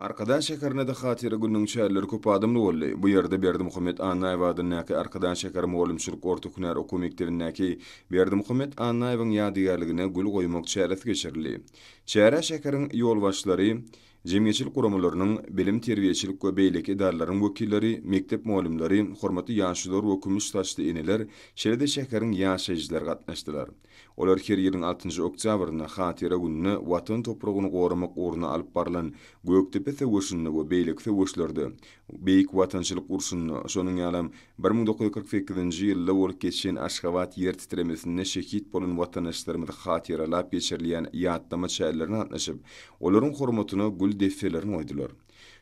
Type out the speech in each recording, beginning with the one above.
Arkadag şäherinde-de Hatyra gününiň çäreleri köp adamly boldy. Bu ýerde Berdimuhamet Annaýew adyndaky Arkadag şäher mugallymçylyk orta hünär okuw mekdebindäki Berdimuhamet Annaýewiň ýadygärligine gül goýmak çäresi geçirildi. Çärä şäheriň ýolbaşçylary, jemgyýetçilik guramalarynyň, bilim-terbiýeçilik we beýleki edaralaryň wekilleri, mekdep mugallymlary, hormatly ýaşulylar we kümüş saçly eneler, şeýle-de şäheriň ýaşaýjylary gatnaşdylar. Olar her ýylyň altynjy oktýabrynda Hatyra gününe Watan topragyny goramak ugruna alyp barlan Gökdepe söweşinde we beýleki söweşlerde, Beýik Watançylyk urşunda, şonuň ýalam bir müň dokuz ýüz kyrk sekizinji ýylda bolup geçen Aşgabat ýer titremesinde şehit bolan watandaşlarymyzy hatyralap geçirilýän ýatlama çärlerine gatnaşyp, olaryň hormatyna gül desselerini goýdular.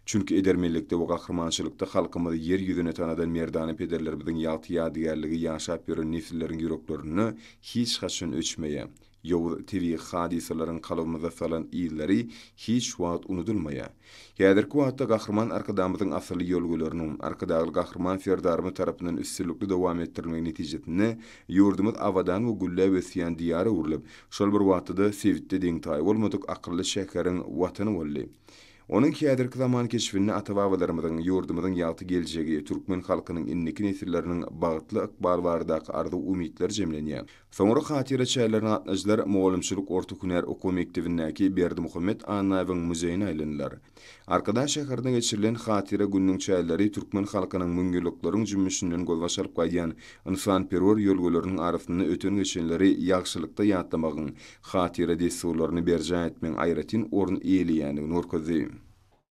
Çünki edermenlikde we gahrymançylykda halkymyzy ýer ýüzüne tanadan merdana pederlerimiziň ýagty ýadygärligi ýaşap ýören nesilleriň ýüreklerinde hiç haçan öçmeýär. Ýowuz tebigy hadysalaryň kalbymyza salan yzlary hiç wagt unudylmaýar. Häzirki wagtda Gahryman Arkadagymyzyň asylly ýörgüleriniň, Arkadagly Gahryman Serdarymyz tarapyndan üstünlikli dowam etdirilmegi netijesinde ýurdumyz abadan we gülläp ösýän Diýara öwrülip, şol bir wagtda-da sebitde deňtaýy bolmadyk akylly şäheriň Watany boldy. Onuň häzirki zaman keşbinde ata-babalarymyzyň, ýurdumyzyň ýagty geljegi, türkmen halkynyň indiki nesilleriniň bagtly ykbaly baradaky arzuw-umytlar jemlenýär. Soňra hatyra çäýlerine gatnadyjylar mugallymçylyk orta hünär okuw mekdebindäki Berdimuhamet Annaýewiň muzeýine aýlandylar. Arkadag şäherinde geçirilen Hatyra gününiň çäýleri türkmen halkynyň müňýyllyklaryň jümmüşinden gözbaş alyp gaýdýan ynsanperwer ýörgüleriniň arasynda öten-geçenleri ýagşylykda ýatlamagyň, hatyra dessurlaryny berjaý etmegiň aýratyn orun eýeleýändigini görkezdi.